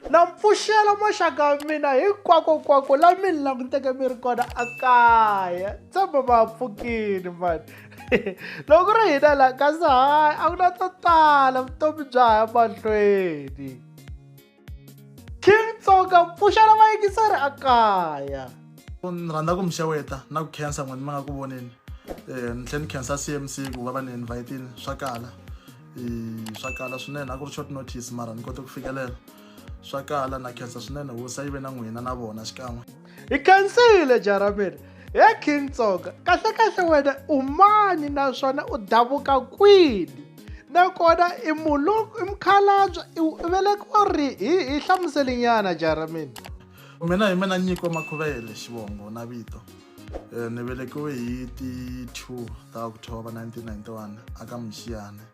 Na pfuxela maxaka ya mina hinkwakonkwako la mi ni languteke mi ri kona a kaya tshemba ma pfukile mani loko ku ri hina la kasi hayi a ku na to tala vutomi bya ha ya mahlweni king tsoka pfuxela vayingiseri a kaya ni rhandza ku mi xeweta na ku khensa n'wini mi nga ku voneni um ni tlhela ni khensa cmc ku va va ni invhayitile swa kala e, swa kala swinene a ku ri short notice mara ni kote ku fikelela swa kala na khensa swinene hosi a yi ve na n'wina na vona xikan'we hi khensile jarameri he king tsonga kahlekahle wena u mani naswona u davuka kwini nakona i mulungu i mukhalabya i velekiwa ri hi hi hlamuselinyana jaramini mina hi mina nyiko makhuvele xivongo na vito Eh, ni velekiwe hi ti 2 ta october 1991 aka mixiyane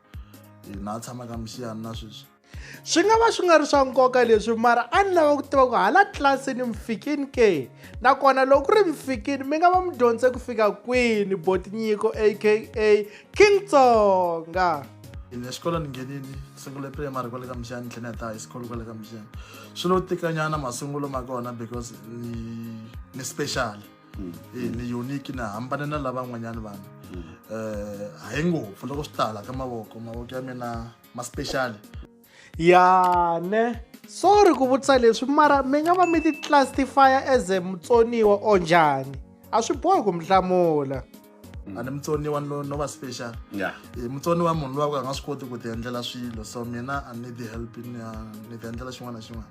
hina a tshama ka mixiyane na sweswi swi nga va swi nga ri swa nkoka leswi mara a ni lava ku tiva ku hala tlilasini mi fikini ke nakona loko ku ri mi fikini mi nga va mi dyondze ku fika kwini botinyiko aka king tsonga ni exikolweni nghenini sungule primary kwale ka mixiyane tlhela ya ta high school kwale ka mixiyane swi lo tikanyana masungulo ma kona because ni ni special mm. eh, ni unique na hambane na lavan'wanyana vanhu um mm. eh, hayi ngopfu loko swi tala ka mavoko mavoko ya mina ma special ya ne sorry ku vutisa leswi mara mi nga va mi ti classifya as mutsoniwa or njhani a swi bohi ku mi hlamula Mm. and mutsoniwa no, no va special yeah. e, mutsoniwa munhu lowa ku a nga swi koti ku ti endlela swilo so mina a ni ti help ni ni ti endlela xin'wana na xin'wana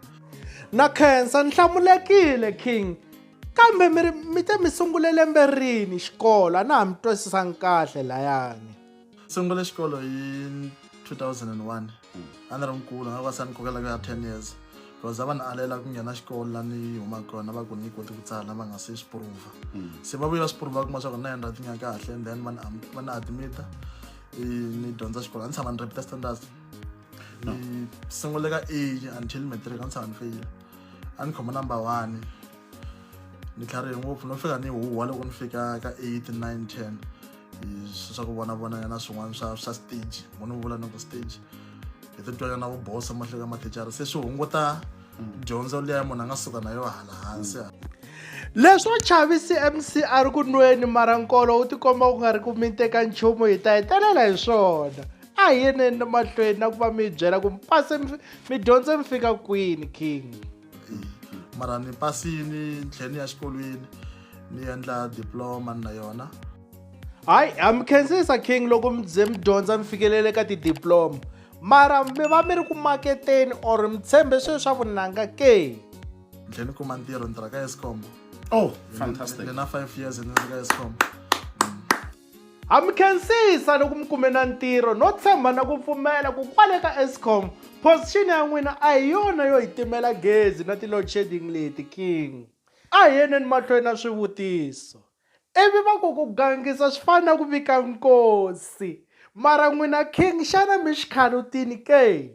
na khensa ni hlamulekile king kambe mi mi te mi sungule lembe rini xikolo a na ha mi twisisangi kahle layani sungule xikolo hi 2001 a ni ri nkulu nga va se ni kokela ku ya 10 years because a va ni alela ku nghena xikolo la ni huma kona va ku ni koti ku tsala va nga se swi prova se va vuye va swi prova kuma swa ku na yendra tinya kahle and then va ni am- va ni admita i ni dyondza xikolo a ni tshama ni repeta standards ni sungule ka a until matric a ni tshama ni feyile a ni khoma number one ni tlharihe ngopfu no fika ni huwa loko ni fika ka 8 9 10 swa ku vonavonanya na swin'wana swa swa stage mo ni vula ni ku stage hi titwanya na vubosa mahlelo ya mathicara se swi hunguta dyondzo liya munhu a nga suka na yo hala hansi leswo chavisi mc a ri ku nweni mara nkolo wu tikomba ku nga ri ku mi teka nchumu hi ta hetelela hi swona a hi yeneni mahlweni na ku va mi byela ku mi pase mi dyondze mi fika kwini king mara ni pasini ni tlhela ni ya xikolweni ni endla diploma na yona hayi ha mi khensisa king loko mi ze mi dyondza mi fikelele ka tidiploma mara mi va mi ri ku maketeni or mi tshembe swilo swa vunanga ke ni tlhela ni kuma ntirho ni tirha ka escom oh fantastic ni na five years ni ri ka escom Ha mi khensisa loko mi kume na ntirho no tshemba na ku pfumela ku kwale ka Eskom position ya n'wina a hi yona yo hi timela gezi na ti-load shedding leti king. A hi yeneni mahlweni na swivutiso. Ivi va ku ku gangisa swi fana na ku vika nkosi. Mara n'wina king xana mi xikhalutini ke?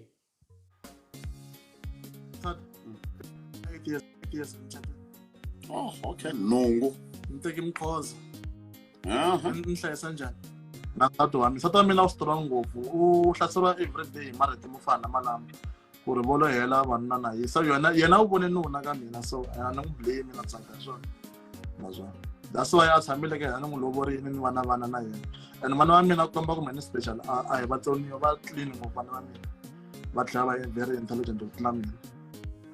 Third. Eight years, eight years in Chapel. Oh, okay. Nhungu. Ni teki Mkhoza. Aha. Ni ni hlayisa njhani? Na nsati wa mina. Nsati wa mina u strong ngopfu. U hlaseriwa everyday hi marito mo fana na malama. Ku ri volo hela vanuna na yisa yona yena u vone nuna ka mina so a ni n'wi blame na tsaka hi swona. naswona that's why a tshamile ka yena ni n'wi lovorile ni vana vana na yena and vana va mina ku komba kumbe ni special a hi vatsoniwa va clean ngopfu vana va mina va tlhela va very intelligent ku tlula mina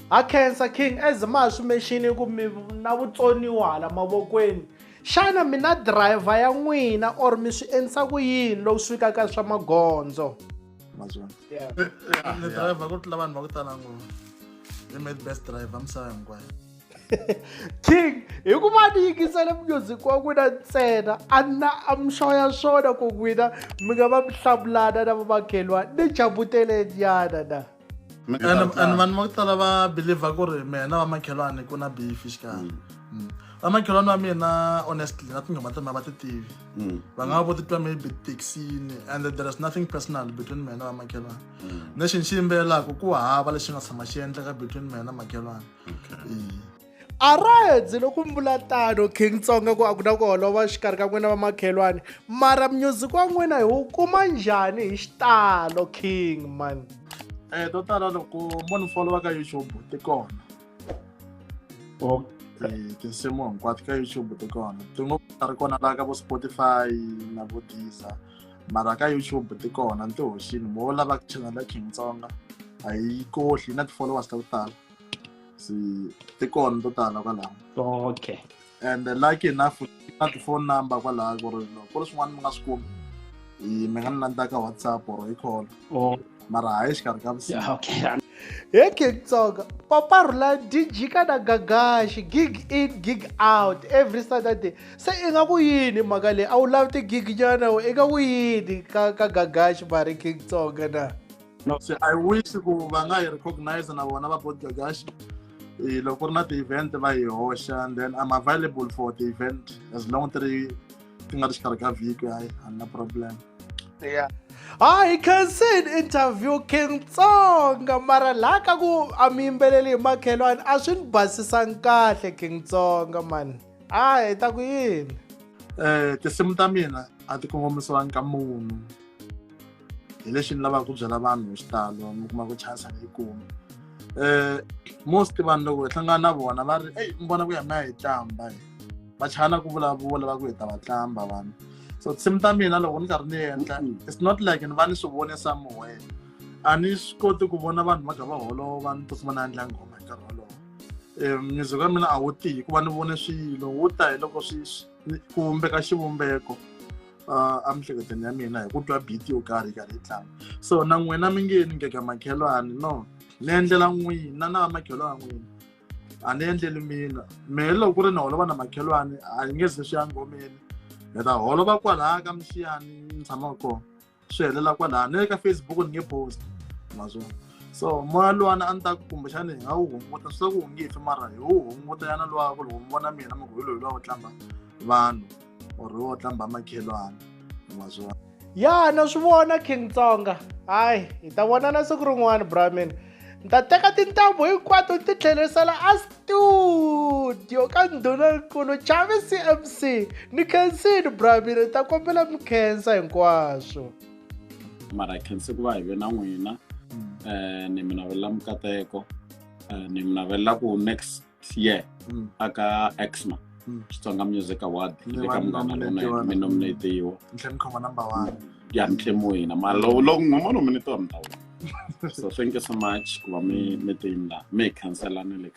ha khensa king as ma swi mexini ku mi na vutsoniwa hala mavokweni xana mina driver ya n'wina or mi swi endlisa ku yini lowu swi ka ka swa magondzo driver ku tlula vanhu va ku tala ngopfu i made best driver misava hinkwayo king hi ku va ni yingisele music wa n'wina ntsena a na a mi xoya swona ku n'wina mi nga va mi hlamulana na vamakhelwani ni jabuteleniana na and vanhu va ku tala va believer ku ri mehe na vamakhelwani ku na beef xikarhi mm. vamakhelwani va mina honestly na tinghoma ta mina va ti tivi mm. va nga va vo titwa maybe taxini and there is nothing personal between mehe na vamakhelwani mm. lexi ni xi yimbelelaka ku hava lexi nga tshama xi endleka between mehe na makhelwani a ra hedzi loko mi vula tano king tsonga ku a ku na ku holova xikarhi ka n'wina va makhelwani mara music wa n'wina hi wu kuma njhani hi xitalo king man eh to tala loko mo ni followa ka youtube ti kona oh. eh, tinsimu hinkwato ka youtube ti kona tin'we ta ri kona laha ka vo spotify na vo deezer mara ka youtube ti kona ni ti hoxini mo lava channel ya king tsonga a yi kohli na ti-followers ta ku tala se ti kona to tala kwalaho okay and lucky enough na ti-phone number kwalaho ku ri ku ri swin'wana mi nga swi kumi mi nga ni landza ka whatsapp or hi call oh. mara hayi xikarhi ka vusiku he kingtsonga papa rhula dj ka na gagaxi gig in gig out every saturday se i nga ku yini mhaka leyi a wu lavi tigig nyana i nga ku yini ka ka gagaxi mari kingtsonga na no se i wish ku va nga yi recognize na vona va bodgagash eh, loko ku ri na ti-event va yi hoxa and then i'm available for the event as long ti ri ti nga ri xikarhi ka vhiki hayi a na problem yeah hayi khansini interview king tsonga mara laha ka ku a mi yimbeleli hi makhelwani a swi ni basisangi kahle king tsonga mani a hi ta ku yini um tinsimu ta mina a ti kongomisiwangi ka munhu hi lexi ni lavaka ku byela vanhu hi xitalo mi kuma ku chance a yi kumi um most vanhu loko hi hlangana na vona va ri eyi mi vona ku ya mi ya hi tlamba hi va chana ku vulavula va ku hi ta va tlamba vanhu so tinsimu ta mina loko ni karhi ni endla it's not like ni va ni swi vonisa moyeni a ni swi koti ku vona vanhu va kha va holova ni tikuma na endla nghoma hi nkarhi wolowo um music wa mina a wu tihi hikuva ni vone swilo wu ta hi loko swi ku vumbeka xivumbeko uh, emiehleketweni ya mina hi ku twa beat yo karhi karhi yi tlanga so na n'wina mi nge ni ngeka makhelwani no ni endlela n'wina na vamakhelwani n'wina a ni endleli mina mehe loko ku ri ni holova na makhelwani a yi nge ze swi ya ngomeni ni ta holova kwalaya ka mixiyani ni tshamaka kona swi helela kwalaya ni le ka facebook ni nge post mazona so moya luwana a ni ta ku kumbexani hi nga wu hunguta swi ta ku wu nge fi mara hi wu hunguta yana luwa ku loko mi vona mina mugwilo hi luwa wu tlanga vanhu or wo tlamba makhelwana ma swi vona ya na swi vona king tsonga hayi hi ta vonana siku rin'wana brahmin ni ta teka tintambu hinkwato ti tlherisela a studio ka ndhunankulu chavi cmc ni khensini brahmin hi ta kombela mi khensa hinkwaswo mara hi khense ku va hi ve na n'wina um ni mi navelela mikateko um ni mi navelela ku next ye Mm. aka exma Mm. xitsonga music award Ni le ka vanhu munghana lava lonene nominate-iwa. mi nominatiwa ntlhanu khoma number one ya ntlhemu wina mara lowu lowu n'we ma nominatiwa mi ta wina so thank you so much ku va mi mi tiyini laha mi hi khanselani le